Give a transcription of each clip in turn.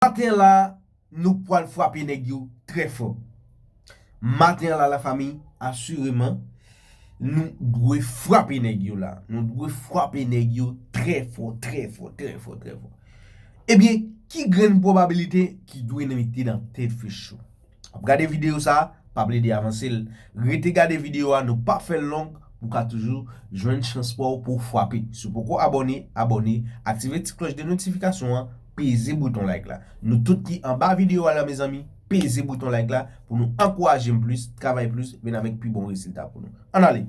Maten la nou pwal fwape nèg yo trè fò. Maten la la fami asireman nou dwe fwape nèg yo la. Nou dwe fwape nèg yo trè fò, trè fò, trè fò, trè fò. Ebyen ki grenn pwobabilite ki dwe nan mete nan tèt fechou. Wap gade video sa, pa plede avansel. Rete gade video a nou pap fèl long pou ka toujou jwenn chans paw pouw fwape. Si w poko abòne, abòne, aktive ti klòch de notifikasyon an, peze bouton like la. Nou tout ki anba video a la mezanmi, peze bouton like la pou nou ankourajem plis, travay plis, vin avèk pi bon resilta pou nou. Ann ale!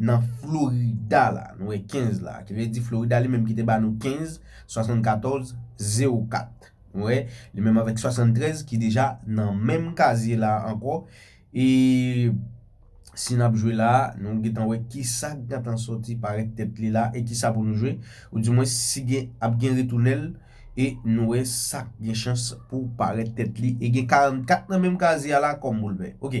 nan Florida la, nou wè 15 la, ki vle di Florida li menm ki te ba nou 15, 74, 0, 4. Nou wè, li menm avèk 73 ki deja nan menm kazye la ankò, e si n ap jwe la, nou gen tan wè ki sa k gen tan soti parèt tèt li la, e ki sa pou nou jwe, ou di mwen si gen ap gen retounen l, e nou wè sa k gen chans pou parèt tèt li, e gen 44 nan menm kazye a la kòm boulvè. Ok.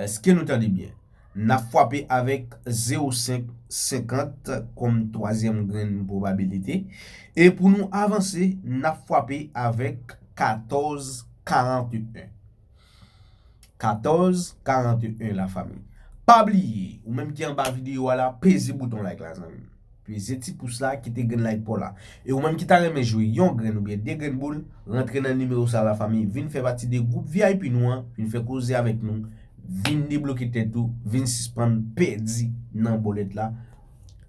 Eske nou tande byen? N ap fwape avèk 0,5, 50, kòm twazyèm grenn pwobabilite, e pou nou avanse, n ap fwape avèk 14, 41. 14, 41 lafanmi. Pa bliye, ou menm ki anba videyo a la, peze bouton like la zanmi m. Peze ti pous la, kite grenn like paw la. E ou menm ki ta renmen jwe yon grenn oubyen 2 grenn boul, rantre nan nimewo sa la fanmi, vin fè pati de gwoup vip nou an, vin fè koze avèk nou, vin debloke tèt ou, vin sispann pèdi nan bòlèt la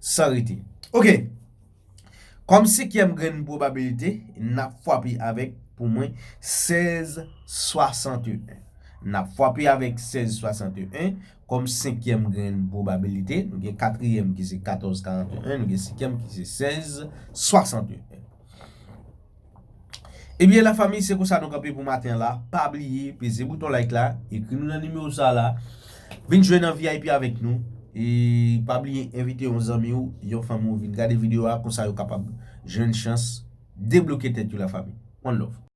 san rete. Ok! Kòm senkyèm grenn pwobabilite, nap fwape avèk pou mwen 16 61. Nap fwape avèk 16 61. Kòm senkyèm gen pwobabilite, nou gen katriyèm ki se 14 41, nou gen senkyèm ki se 16 61. Ebyen la fanmi se konsa nou kanpe pou maten la, pa bliye peze bouton like la, ekri nou nan nimewo sa la, vin jwe nan vip avèk nou, e pa bliye envite yon zanmi ou, yon fanmi ou vin gade videyo a, konsa yo kapab jwenn chans debloke tèt yo la fanmi. One love.